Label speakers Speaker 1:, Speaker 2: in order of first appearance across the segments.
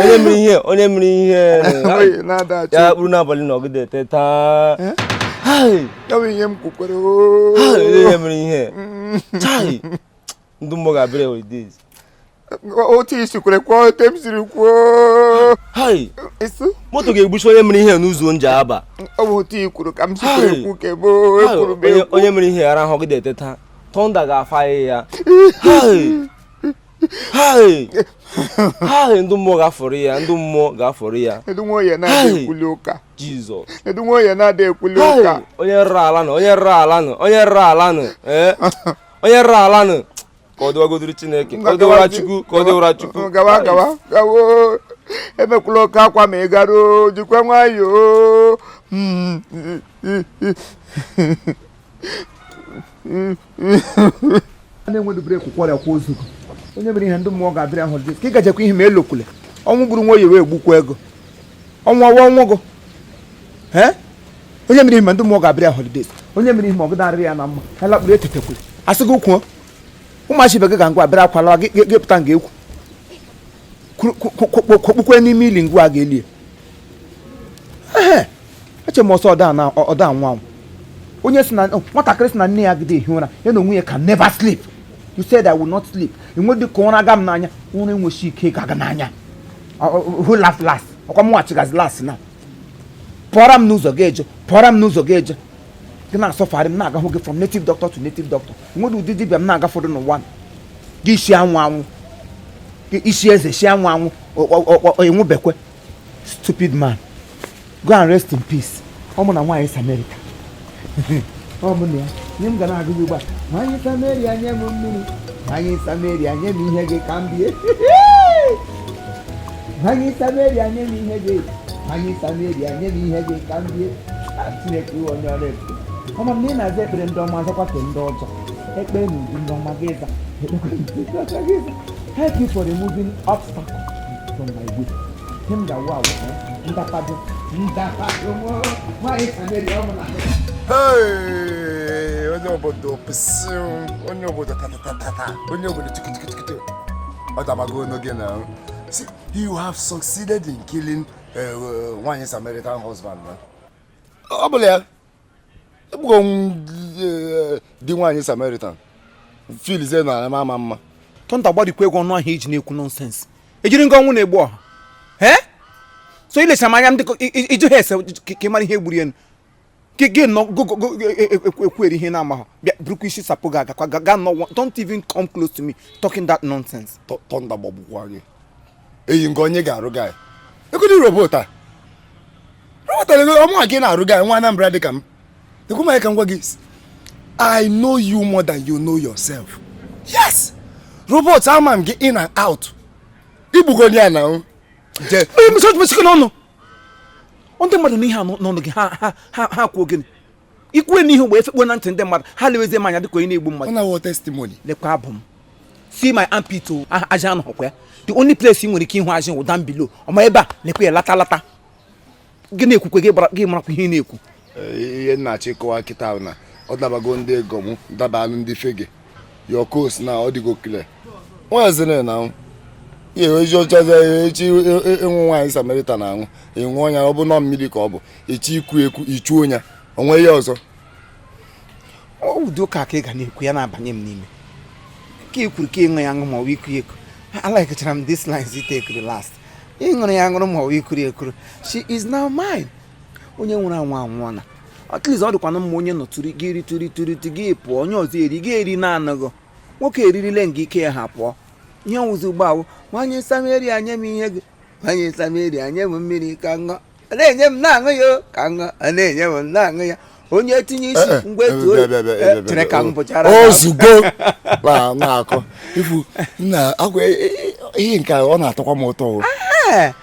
Speaker 1: onye mere ihe onye mere ihe ya kpụrụ n'abalị na ọ gịda eteta ihe m kwukwere onye mere ihe ndị mmụọ ga-abịara holidays otu i si kwere kwuo otu m siri kwuo moto ga-egbuchi onye mere ihe n'ụzọ Njaba ọ bụ otu i kwuru ka m si kwere kwu kebo onye mere ihe arahụ ọ gịda eteta thunder ga-fire ya ha ndị mmụọ ga-afọrọ ya ndị mmụọ ga-afọrọ ya ndị mmụọ ya na-adị ekwuli ụka jizọs ndị mmụọ ya na-adị ekwuli ụka onye rụrụ ala nụ onye rụrụ ala nụ onye rụrụ ala nụ eh? onye rụrụ ala nụ ka ọ dịwagodiri chineke ka ọ dịwara chukwu ka ọ dịwara chukwu gawa gawa gawa ebekwula oke akwa ma ị garuo jikwa nwayọọ hmm. na-enwedu breki kwọrịa kwa ozu gị onye mere ihe ndị mmụọ ga-abịrị holidays ka ị gajekwa ihe ma elokwule ọnwụ gburu Nwoye wee gbukwa Ego ọ nwụọ wa ọ nwụgo onye mere ihe ma ndị mmụọ ga-abịrị ya holidays onye mere ihe ma ọ gịda arịrị ya na mma ya lakpuru etetekwule a sị gị kwuo ụmụachi ibe gị ga ngwa abịara akwala gị pụta nga ekwu kwokpukwe n'ime ili ngwa ga-elie eche m ọ sị ọ da-anwụ anwụ onye sị na oh, nwatakịrị sị na nne ya gide ehi ụra ya n'onwe ya can never sleep you said i will not sleep e nwedị ka ụra aga m n'anya ụra enwechi ike ga-aga n'anya who laugh last ọkwa mụwa chịgazi last now pụọra m n'ụzọ ga-eje pụọra m n'ụzọ ga-eje gị na-asuffer ị na-agahụ gị from native doctor to native doctor nwedu ụdị dibịa m na-aga fọdụ n'ụwa gị isi anwụ anwụ gị isi eze si anwụ anwụ ị nwụbekwe stupid man go and rest in peace ọ mụ na nwaanyị Samaritan ọ mụ na ya nye m ga na-agụ gị ugbu a nwaanyị Sameria nye m mmiri nwaanyị Sameria nye m ihe gị ka m bie nwaanyị Sameria nye m ihe gị nwaanyị Sameria nye m ihe gị ka m bie Chineke ị wụ onye ọrụ ebube ọma m na ị na-aza ekpere ndị ọma azakwa ke ndị ọjọọ ekpere na uju ndị ọma gị ịza thank you for removing obstacle from my way ihe m ga-awụ awụ ndapado ndapado nwaanyị Sameria ọ bụla onye obodo pịsị onye obodo tatatata onye obodo chikichikichikiti ọ dabago n'oge now See, you have succeeded in killing uh, uh, nwaanyị Samaritan husband. Ọ bụla ya, i gbugo di nwaanyị Samaritan filize na ama ama mma. Thunder gbarikwee gị ọnụ ahụ i ji na-ekwu nonsense. Ejiri nga ọnwụ na-egbu ọha. So ilechara m anya m dịka ị jụ ha ese ka ị mara ihe gburu ya nụ. gị nọ ekwuri ihe ị na-amaghị bịa burukwa isi sapụ gị agakwa ga nọ don't even come close to me talking that nonsense thunder gbagbukwa gị eyi nke onye ga-arụ gị ekwedị robot a robot ọ mụnwa ga na-arụ gị nwa Anambra dị ka m ekwu m ka m gwa gị I know you more than you know yourself yes robot ama m gị in and out igbugo ya na je mesịkwa n'ọnụ ndị mmadụ n'ihe a n'ọnụ gị ha ha ha ha kwuo gịnị ikwue n'ihu mgbe efekpo na ntị ndị mmadụ ha lewezie m anya dịka onye na-egbu mmadụ ọ na-awụ testimony lekwa abụ m
Speaker 2: see my armpit o ajị anọhụkwa ya the only place ị nwere ike ịhụ ajị wụ down below ọma ebe a lekwa ya lata lata gị na-ekwukwe gị gbara- gị marakwa ihe ị na-ekwu ihe
Speaker 3: nnachi kọwa kịta na ọ dabago ndị ego m dabanụ ndị fege of course na ọ dịgo clear nwaziri na ihe ezi ọchazi echi ịṅụ e, e, e, nwaanyị Samaritan aṅụ ịṅụ ọ nya ọ bụ nọ mmiri ka ọ bụ echi iku eku ichu onya o nwe ihe ọzọ
Speaker 2: ụdị ụka ka ị ga na-ekwu ya na-abanye m n'ime ka ị kwuru ka ịṅụ ya aṅụ ma ọ bụ iku eku alikechara m this lines take the last ịṅụrụ ya ṅụrụ ma ọ bụ ikuru ekuru she is now mine onye nwụrụ anwụ anwụọna at least ọ dịkwanụ mma onye nọ tụrụ gị eri tụrụ tụrụ tụ gị pụọ onye ọzọ eri gị eri na-anaghị nwoke eririle nga ike ya hapụ ihe ọ wụzi ugbu a wụ nwanyị Sameria nye m ihe gị nwanyị Sameria nye m mmiri ka ṅụọ a na-enye m na-aṅụ ya o, ka ṅụọ a na-enye m na-aṅụ ya onye tinye isi eh, eh, ngwa etu eh, chere ka m bụchara
Speaker 3: ozugbo na-akọ ifu na akwa ihe nke ọ na-atọkwa m ụtọ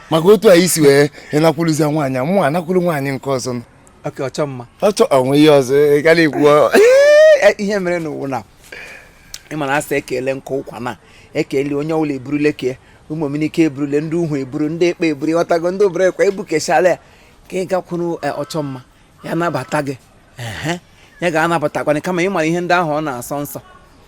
Speaker 3: maka otu anyị si wee ịnakwụrụzie nwaanyị mụ anakwụrụ nwaanyị nke ọzọ ọchọ mma
Speaker 2: ọchọ o nwe ihe
Speaker 3: ọzọ ị gara ikwu
Speaker 2: ihe mere n'ụwa na ị ma na asị e kele nkụ ụkwa na e kele onye ọbụla eburule ke ụmụ omenike eburule ndị uhu eburu ndị ekpe eburu ị ghọtago ndị obere ekwe ebukeshala ya ka ị gakwuru ọchọ mma ya nabata gị ehe ya ga-anabatakwanụ kama ị mara ihe ndị ahụ ọ na-asọ nsọ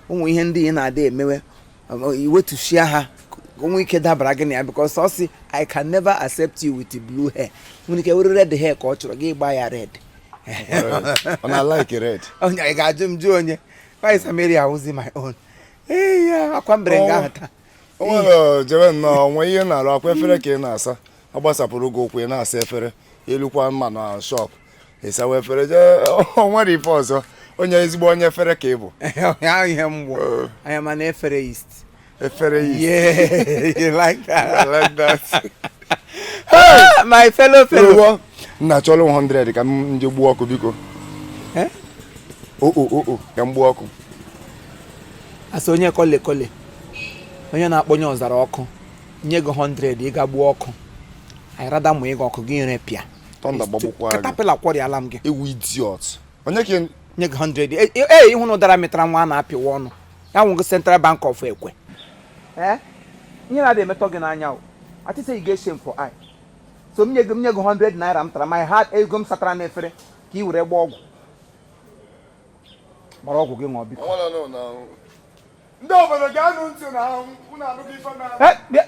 Speaker 2: ụmụ ihe ndị ị na-ada emewe ọ- i wetuchia ha ka o nwee ike dabara gị na ya because ọ sị i can never accept you with blue hair nwere ike were red hair ka ọ chọrọ gị gba ya
Speaker 3: red ọ na-alike red onye ị ga-ajụ m
Speaker 2: jụ onye nwanyị Sameria wụzi my own ee ya ọkwa mbere nga ahụ taa o nwere jebe
Speaker 3: nnọọ nwee ihe ị na-arụ ọkwa efere ka ị na-asa ọ gbasapụrụ gị ụkwụ ị na-asa efere i lukwa ma na shop ị sawa efere jee o nwere ife ọzọ onye ezigbo onye efere ka ị bụ ahụ ihe mgbọ
Speaker 2: Oh. anya mana efere is efere yi yeah you like I that like that. Ah, my fellow fellow Ewo, nna
Speaker 3: chọrọ 100 ka m nje gbuo ọkụ biko Eh? o o o o ka m gbuo
Speaker 2: ọkụ asị onye kọle kọle onye na-akpọnye ọzara ọkụ nye gị 100 ị ga gbuo ọkụ anyị rada mụ ịga ọkụ gị erepịa thunder gbagbukwa
Speaker 3: gị caterpillar kwọrịala m
Speaker 2: gị ewu
Speaker 3: idiot onye ka ị- nye gị
Speaker 2: 100 E- e- ee ịhụ na ụdara mụtara nwa a na-apịwa ọnụ ya wụ gị central bank of ekwe ee ihe na-adị emetọ gị n'anya o atịsa ị ga-eche m for eye so m nye gị m nye gị 100 naira m tara my heart ego m satara n'efere ka ị were gbaa ọgwụ gbara ọgwụ gị ṅụọ biko ndị
Speaker 3: obodo geenụ ntị na ahụ unu anụghị ife na Eh, bịa-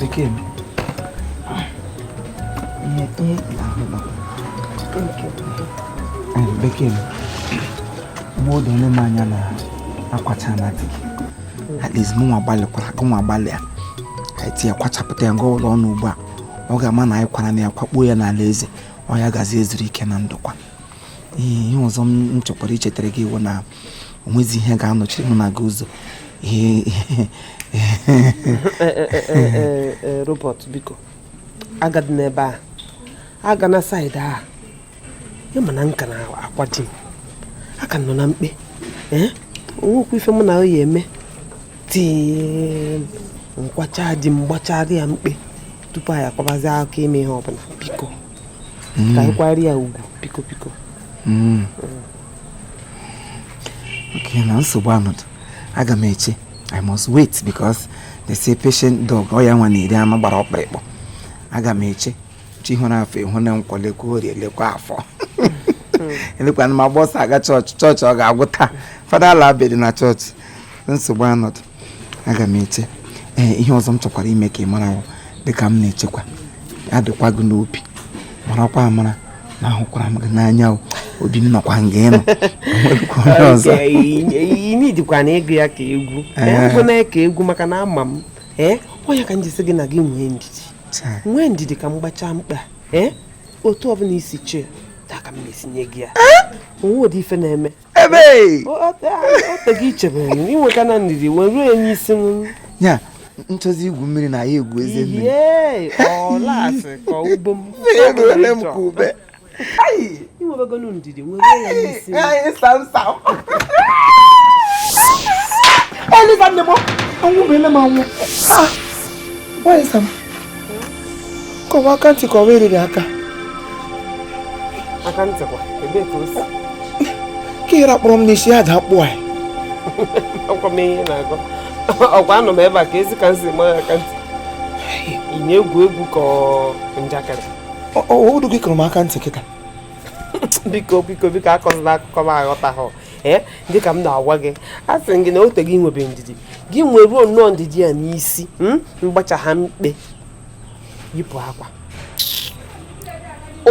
Speaker 2: Bekee m. Ihe ihe na-ahụ na Bekee m. Mgbe odo onye m anya na akwachana di gị. At least mụ nwa gbalịkwara gị nwa gbalịa. Ka eti ya kwachapụta ya nga ọwụla ọ nọ ugbu a. Ọ ga-ama na anyị kwarana ya kwakpuo ya n'ala eze. Oya gazie zuru ike na ndokwa. ihe ọzọ m chọkwara ichetara gị wụ na onwezi ihe ga-anọchiri m na gị
Speaker 4: ụzọ Robert biko agadịna ebe a agana side a ị ma na m ka na-akwa di m aka m nọ na mkpe onwekwa ife mụ na ya eme tii m kwachaa di m gbachara ya mkpe tupu anyị akwabazi aka ime ihe ọbụla biko ka anyị kwara ya ugwu biko biko
Speaker 2: hmm. okay na nsogbu anọdụ aga m eche I must wait because they say patient dog ọ ya nwa na-eri anụ gbara ọkpụrịkpụ aga m eche chi hụrụ afọ ịhụ na nkwọ lekwa orie lekwa afọ lekwa ana m agba ọsọ aga chọọchị chọọchị ọ ga-agwụ taa fada ala abịa dị na chọọchị nsogbu anọdụ aga m eche ee ihe ọzọ m chọkwara ime ka ị mara wụ dịka m na-echekwa ya dịkwa gị n'obi marakwa amara na ahụkwara m gị n'anya o obi m nọkwa nga ị nọ enwebụkwa onye ọzọ
Speaker 4: idikwana ịgụ ya ka egwu ekwena ya ka egwu maka na ama m ee onye ka m ji si gị na gị nwee ndidi nwee ndidi ka m gbachaa mkpe ee otu ọbụla i si chee taa ka m na-esi nye gị ya onwedị ife na-eme ebe oteghị ichebere m inweta na ndidi wee ruo enye isi m ya
Speaker 2: nchọzi igwu mmiri na ya egwu eze mmiri
Speaker 4: eruole m ka ube
Speaker 2: inwebegonu ndidi wee ruo ya n'isi m kụwa aka ntị kọwa eriri
Speaker 4: aka aka ntị kwa ebe ka o si ka ị
Speaker 2: rakpọrọ m n'isi ya da akpụ anyị
Speaker 4: ọkwa m ihe na-agụ ọkwa anọ m ebe a ka ezi ka m si ma aka ntị ị na-egwu egwu ka njakịrị odu
Speaker 2: gị kụrụ m aka ntị kịta
Speaker 4: biko biko biko akọzila akụkọ m aghọtahụ ee dị ka m na-agwa gị a sị gị na o tego i nwebe ndidi gị nweruo nnọọ ndidi ya n'isi hmm? m gbachaa mkpe yipụ akwa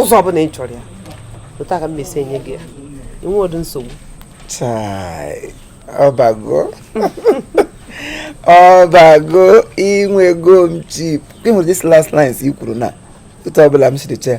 Speaker 4: ụzọ ọbụla ị chọrọ ya otu a ka m na-esi enye gị ya inwe ụdị
Speaker 2: nsogbu ọ bago ọ bago i nwego m cheap gị nwere this last lines i kwuru na otu ọbụla m siri chee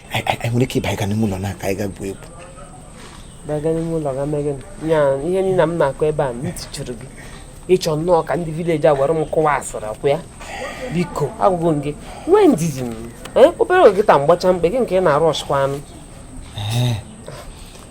Speaker 2: anyị nwere ike ịbaga n'ime ụlọ na ka anyị ga gwuo egwu
Speaker 4: baga n'ime ụlọ ga mee gịnị ya ihe niile m na-akọ ebe a ntị chiri gị ị chọ nnọọ ka ndị village a were m kụwa asịrị ọ kwa ya biko agwago m gị nwee ndidi m obere oge taa m gbachaa mkpe gị nke ị na-arụ ọchịkwa anụ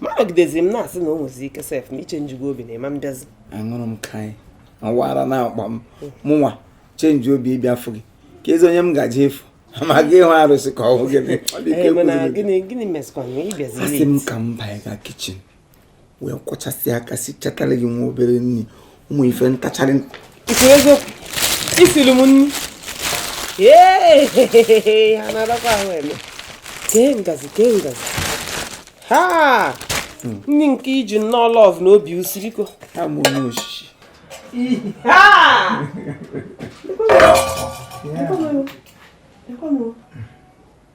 Speaker 4: ma anọgidezi m na-asị na o nwezi ike sef na ị changego obi na ị ma abịazi aṅụrụ m kai
Speaker 2: ọ wụ ara na-akpa m mụnwa change obi ịbịa ịfụ gị keezi onye m ga-eje ịfụ m ga ịhụ arụsị ka ọ wụ
Speaker 4: gịnị asị m ka m banye
Speaker 2: ga kitchen wee kwọchasị aka sichatara gị nwa obere nri ụmụ ife ntacharị i kwuru
Speaker 4: eziokwu i siri m nri ee ha na-adakwa ahụ eme kee ngazi kee ngazi ha ndị nke i ji nnọọ love na obi usiriko ha mụ onye
Speaker 2: osisi ha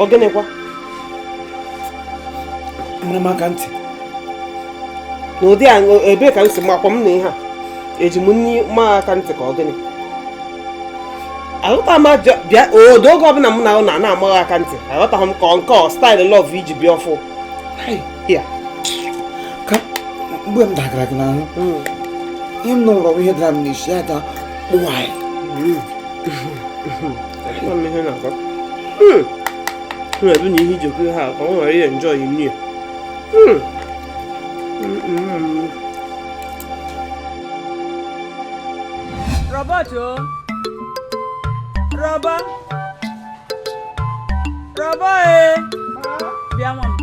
Speaker 4: ọ
Speaker 2: gịnịkwa mara m aka
Speaker 4: ntị n'ụdị a ebee ka m si makwa m na ihe a eji m nri ma aka ntị ka ọ gịnị aghọta m bịa Odo oge ọbụla m na ị nọ a na-ama gị aka ntị aghọtaghị m ka nke a ọ style love i ji bịa
Speaker 2: ọfụụ mgbe m dagara gị n'ahụ hmm. ihe m nụrụ ihe dara m n'isi ya ada kpụwa
Speaker 4: na-ebu na ihe iji okwu ha ka ọ wee enjoy
Speaker 5: nri Robert o oh. Robert Robert e eh. bịa nwa m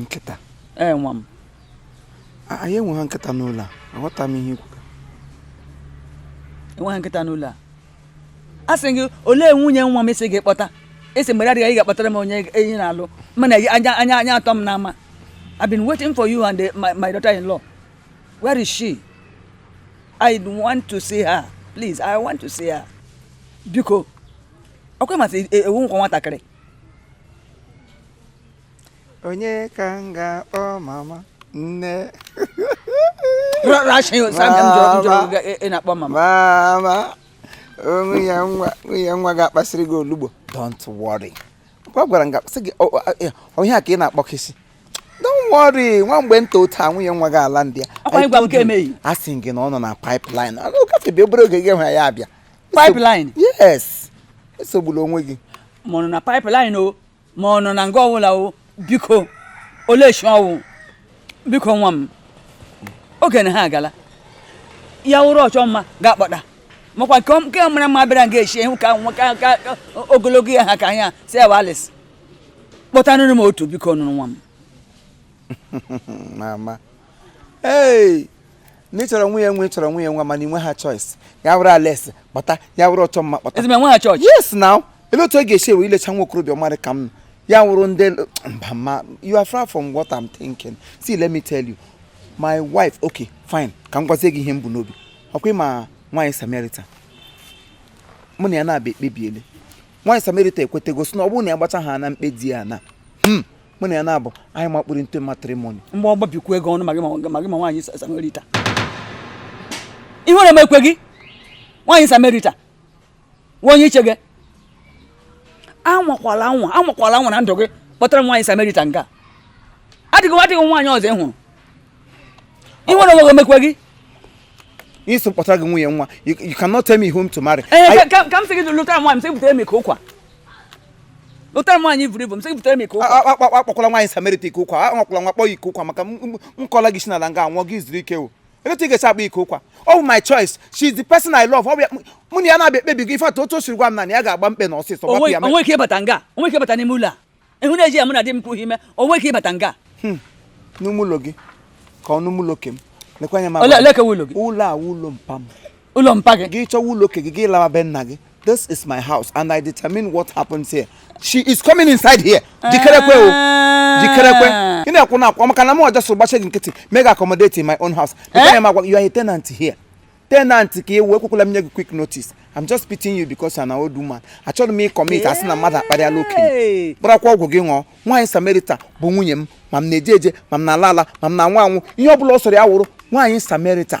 Speaker 2: nkịta ee nwa m anyị enweghị nkịta n'ụlọ a aghọta m ihe i
Speaker 5: kwu enweghị nkịta n'ụlọ a a sị gị olee nwunye nwa m i sị ị ga-akpọta i sị mgbe adịghị ị ga-akpọtara m onye anyị na-alụ mana anya anya anya atọ m n'ama I've been waiting for you and the, my, my daughter-in-law where is she I want to see her please I want to see her biko ọkwa masị ewu nkwa nwatakịrị
Speaker 2: onye ka m ga-akpọ mama nne
Speaker 5: mama
Speaker 2: nwunye nwa nwunye nwa ga-akpasịrị gị olugbo don't worry ọ gwara m gasị gị onye a ka ị na-akpọkesi don't worry nwa mgbe nta otu a nwunye nwa gị alandịa
Speaker 5: a sị gị na ọ nọ na
Speaker 2: pipeline ọ gafebe obere oge gị hụ ya abịa
Speaker 5: pipeline
Speaker 2: yes esogbula onwe gị ma ọ nọ na
Speaker 5: pipeline o ma ọ nọ na nga ọwụla o biko oleshi ọ wụ biko nwa m oge na ha agala ya wụrụ ọchọmma ga-akpọta makwa nke mara mma bịara nga eshi ihu ka ogologo ya ha ka anya si ya alice kpọtanụrụ m otu bikonụ nwa m
Speaker 2: mama ee na ị chọrọ nwunye nwa ị chọrọ nwunye nwa mana i nwe ha choice ya wụrụ alice kpọta ya wụrụ ọchọmma kpọta ezigbo enwe ha choice yes
Speaker 5: now ele otu
Speaker 2: ọ ga-esi ewe ilecha nwa okorobịa ọma rị ka m ya wụrụ ndị mama you are far from what I'm thinking see let me tell you my wife okay fine ka m gwazie gị ihe m bu n'obi ọ kwa ị ma nwaanyị samerita mụ na ya naabọ ekpebiele nwaanyị samerita ekwetego sị na ọ bụrụ na ya gbacha ha na mkpe di ya na hmm. mụ na ya naabọ anyị amakpuru into matrimony mgbọ gbapịakwa
Speaker 5: gị ọnụ ma gị ma nwaanyị samerita ihere ọ na-emekwe gị nwaanyị samerita nwa onye iche gị anwakwala anwa anwakwala anwa na ndụ gị kpọtara nwaanyị samerita nga adịghị adịghị nwaanyị ọzọ ị hụrụ ihere ọ naghị emekwe
Speaker 2: gị ị sị m kpọtara gị nwunye nwa you cannot tell me whom to marry. Eh, ka m sị gị
Speaker 5: lụtara nwaanyị m sị butere m ike ụkwa ụtara m nwaanyị buru ibu m sị butere m ike ụkwa akpọkwala nwaanyị
Speaker 2: samerita ike ụkwa anwakwala nwa kpọ ya ike ụkwa maka m kụọla gị isi n'ala nga anwụọ gị zuru ike o etu ị ga-esi akpọ ya ike ụkwa ọ bụ my choice she is the person I love mụ na ya naabọ ekpebigo ife atụ otu o siri gwa m na ya ga-agba mkpe na ọsịsọ gbapụ ya o nwe ike ịbata nga o
Speaker 5: nwe ike ịbata n'ime ụlọ a ịhụ na-eji ya mụ na di m kwughị ime o nwe ike ịbata nga hmm. n'ime
Speaker 2: ụlọ gị ka ọ n'ime ụlọ ke m lekwa anya ma ụlọ
Speaker 5: a ụlọ mpa m
Speaker 2: ụlọ mpa gị
Speaker 5: gị chọwa ụlọ ke gị gị
Speaker 2: lawa be nna gị this is my house and i determine what happens here she is coming inside here jikerekwe o ah. jikerekwe ị na-ekwu na ọ kwa maka na m ọjọ so gbachi gị nkịtị m ga-accommodate in my own house lekwa anya ma you are a tenant here tenant ka ị wụ ekwekwala m nye gị quit notice i'm just pitying you because you're an old woman achọrọ m ị-commit a sị na mmadụ akparịala okenye kparakwa ọgwụ gị ṅụọ nwaanyị samerita bụ nwunye m ma m na-eje eje ma m na-ala ala ma m na-anwụ anwụ ihe ọ bụla ọ sọrọ ya wụrụ nwaanyị samerita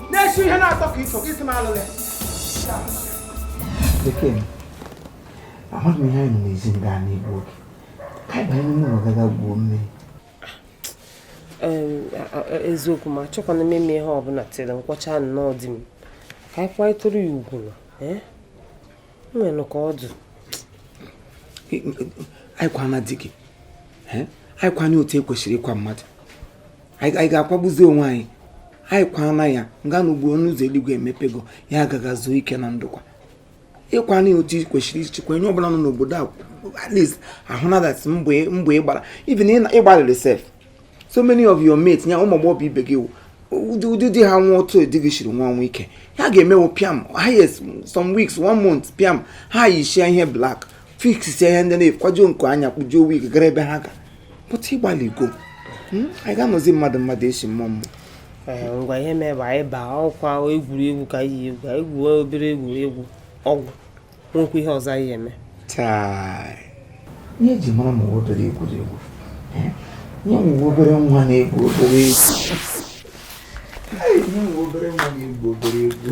Speaker 2: na-esi
Speaker 6: ihe na-atọ ka iso gị si m alụlụ ya Bekee, amaghị m ihe anyị nọ n'ezi ndị a na-egbu oge ka anyị banye n'ime ụlọ gaga gwuo mmiri
Speaker 4: eziokwu m achọkwana m ime ihe ọbụla till m kwachaa nnọọ di m ka anyị kwanyetụrụ ya ugwu na nwere ka ọ
Speaker 6: dị anyị kwana di gị anyị kwana ya otu ekwesịrị ịkwa mmadụ anyị ga-akwagbuzi onwe anyị anyị kwana ya nga na ugbu ọnụ ụzọ eluigwe emepego ya gaga zuo ike na ndokwa ịkwana ya otu kwesịrị ishi kwaa onye ọbụla nọ n'obodo a at least ahụna that mbọ ị gbara even ịgbalịrị sef so many of your mates nya ụmụ agbọghọ ibe gị ndị di ha nwụọ otu di gị shiri nwụọ o nwere ike ha ga-emewo piam highest some weeks one month piam ha yishia ihe black fix ihe ndị na-akwaju n'iku anya kpujuo wig gara ebe ha ga but ịgbalịgo hmm? anyị ga-anọzi mmadụ mmadụ esi mmụọ mmụọ eh, ngwa ihe
Speaker 4: mee bụ anyị baa ọkwa egwuregwu ka anyị egwu anyị gwuo obere egwuregwu ọ gwụ nwekwa ihe ọzọ anyị eme
Speaker 6: ihe eji mara ma obere egwuregwu eh? onye nwe obere nwa na-egwu obere egwu onye nwe obere nwa na-egwu obere egwu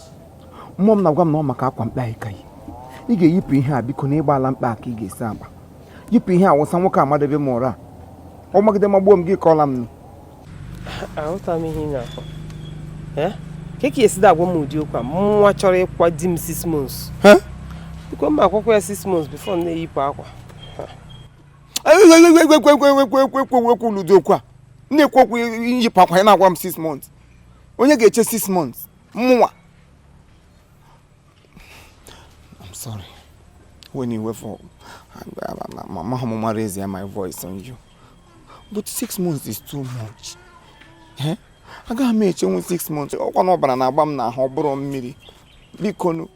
Speaker 6: mmụọ m na-agwa m na ọ maka akwa mkpe anyị ka yi ị ga-eyipụ ihe a biko na ịgbaala mkpe ka ị ga-esi agba yipụ ihe a wụsa nwoke amadebe m ụra ọ magide magbuo m gị kọọla m aghọta
Speaker 4: m ihe ị na-akọ ka ka esi agwa m ụdị okwu a mụnwa chọrọ ịkwa di m six months biko m akwakwa ya six months before m na-eyipụ akwa
Speaker 6: ekwekwu ụdị okwu a na-ekwu okwu iyipụ akwa ya na-agwa m six months onye ga-eche six months mụnwa I'm sorry when you were for mama mama raise my voice on you but six months is too much eh? agaghị m echenwu six months ọkwa na ọbara na-agba m n'ahụ ọ bụrọ mmiri bikonu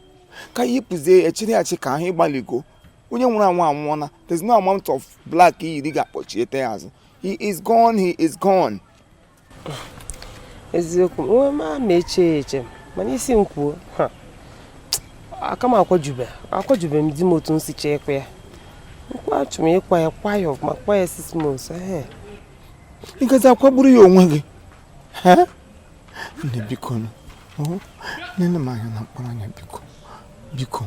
Speaker 6: ka yipụzie echiri achị ka ahụ ịgbaligo onye nwụrụ anwụ anwụọna there's no amount of black iyiri ga-akpọchiete ya azụ he is gone he is gone
Speaker 4: eziokwu onwe m ama eche ya eche mana isi m kwuo aka m akwajube akwajube m di m otu m si chọọ ịkwa ya nkwa achọ m ịkwa ya kwa ya ọfụma kwa ya six
Speaker 6: months ịgazi akwagburu ya onwe gị nne biko nene m anya na mkpụrụ anya biko biko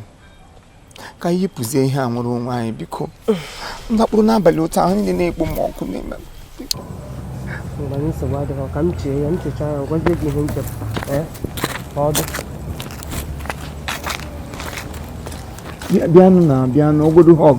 Speaker 6: ka anyị yipụzie ihe a nwere onwe anyị biko m lakpuru n'abalị otu ahụ niile na-ekpo m ọkụ n'ime m biko.
Speaker 4: mgbe anyị nsogbu adịghị ka m chee ya m chechaa ya gwazie gị ihe m chere ee ka ọ
Speaker 6: dị Bịa- bịanụ na bịanụ godu hug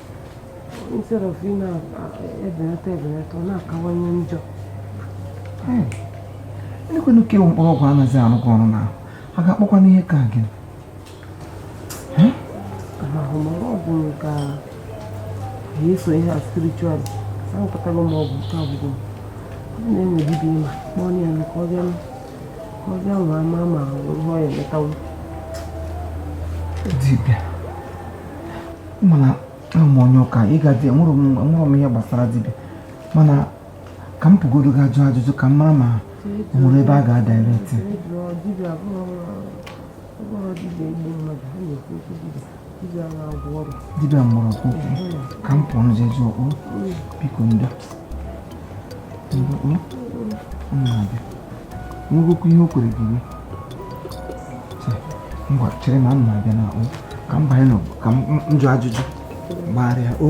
Speaker 4: instead of ị na-ebelata ebelata ọ na-akawanye
Speaker 6: njọ lekwenụ ka ewu mkpụrụ ọgwụ anaghị arụkọ ọrụ n'ahụ a ga-akpọkwa n'ihe ka gị ahụmahụ ọgwụ ka
Speaker 4: eso ihe a spiritual ahụpụtara m ọgwụ nke agwụgwọ ọ na-enwebibi ma kpọọ ya na ka ọ bịa ka ọ bịa nwa ama ma ihe ọ ya emetawo
Speaker 6: dibịa mana awụ m onye ụka ịga dị enwere m ihe gbasara dibịa mana ka m pụgodo ga jụọ ajụjụ ka m mara ma o nwere ebe a ga-adirect
Speaker 4: dibịa
Speaker 6: mgbọrọgwụ ka m pụọ nje jụọ biko ndo mgbe m na-abịa nwegokwa ihe o kwere gị ngwa chere na m na-abịa na o ka m banye n'ụnọ ka m jụọ ajụjụ gbagharịa o